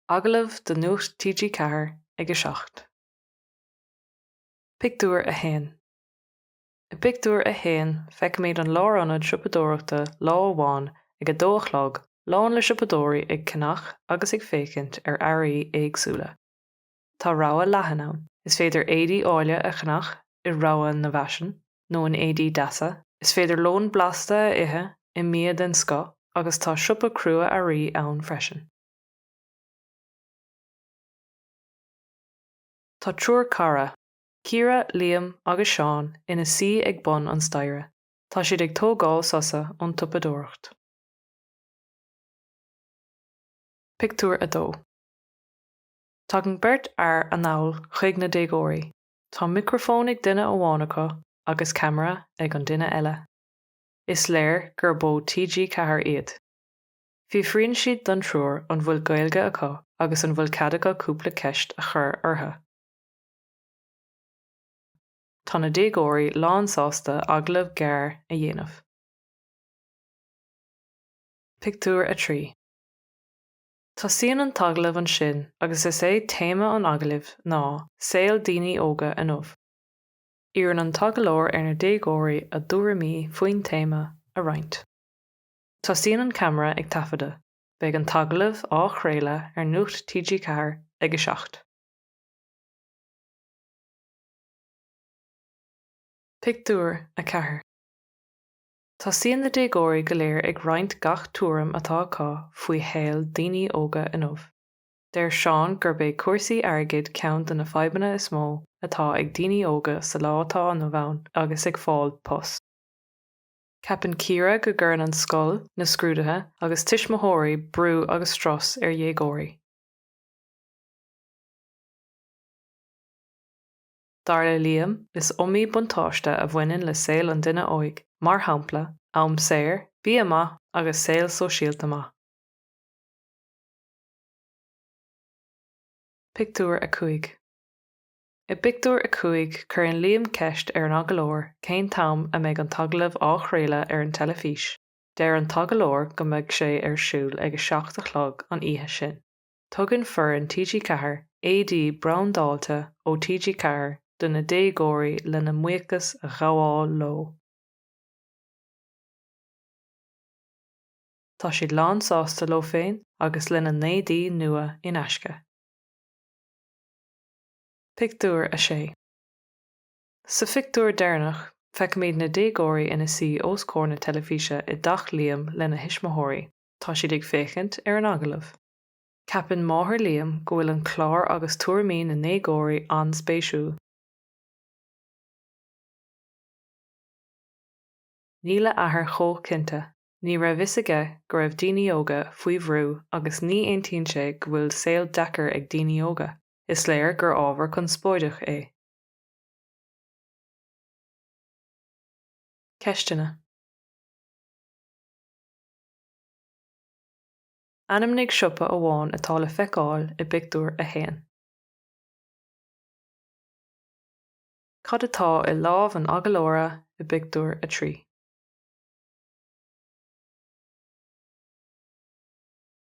Agallamh do Nuacht TG4 ag a seacht. Pictiúr 1 I bpictiúr a haon feicimid an lárionad siopadóireachta lá amháin ag a dó a chlog lán le siopadóirí ag ceannach agus ag féachaint ar earraí éagsúla. tá rogha leathan ann. Is féidir éadaí áille a cheannach i rogha na bhfaisean nó in éadaí deasa, is féidir lón blasta a ithe i mbia den scoth agus tá siopa crua-earraí ann freisin. Tá triúr cara, Ciara, Liam agus Seán, ina suí ag bun an staighre. Tá siad ag tógáil sosa ón tsiopadóireacht. Pictiúr 2 Tagann beirt fhear anall chuig na déagóirí. Tá micreafón ag duine amháin acu agus ceamara ag an duine eile. Is léir gurb ó TG Ceathair iad. Fiafraíonn siad den triúr an bhfuil Gaeilge acu agus an bhfuil cead acu cúpla ceist a chur orthu. Tá na déagóirí lánsásta agallamh gearr a dhéanamh. Pictiúr 3. Tosaíonn an t-agallamh ansin agus is é téama an agallaimh ná 'Saol daoine óga inniu'. Iarrann an t-agallóir ar na déagóirí a dtuairimí faoin téama a roinnt. Tosaíonn an ceamara ag taifeadadh. Beidh an t-agallamh á chraoladh ar Nuacht TG4 ag 7. Pictiúr 4. Tosaíonn na déagóirí go léir ag roinnt gach tuairim atá acu faoi shaol daoine óga inniu. Deir Seán gurb é cúrsaí airgid ceann de na fadhbanna is mó atá ag daoine óga sa lá atá inniu ann agus ag fáil post. Ceapann Ciara go gcuireann an scoil, na scrúduithe agus tuismitheoirí brú agus strus ar dhéagóirí. Dar le Liam, is iomaí buntáiste a bhaineann le saol an duine óig, mar shampla, am saor, bia maith agus saol sóisialta maith. Pictiúr 5 I bpictiúr a cúig cuireann Liam ceist ar an agallóir cén t-am a mbeidh an t-agallamh á chraoladh ar an teilifís. Deir an t-agallóir go mbeidh sé ar siúl ag a seacht a chlog an oíche sin. tugann foireann TG4 éadaí brandáilte ó TG4 do na déagóirí lena mbuíochas a ghabháil leo. Tá siad lánsásta leo féin agus lena n-éadaí nua in aisce. Pictiúr 6 Sa phictiúr deireanach, feicimid na déagóirí ina suí os comhair na teilifíse i dteach Liam lena thuismitheoirí. Tá siad ag féachaint ar an agallamh. Ceapann máthair Liam go bhfuil an clár agus tuairimí na ndéagóirí an-spéisiúil. Níl a athair chomh cinnte. Ní raibh fhios aige go raibh daoine óga faoi bhrú agus ní aontaíonn sé go bhfuil saol deacair ag daoine óga. Is léir gur ábhar conspóideach é. Ceisteanna. Ainmnigh siopa amháin atá le feiceáil i bPictiúr a hAon. Cad atá i lámh an agallóra i bPictiúr a Trí?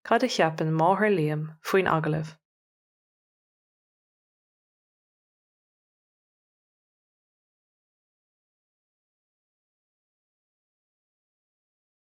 Cad a cheapann máthair Liam faoin agallamh?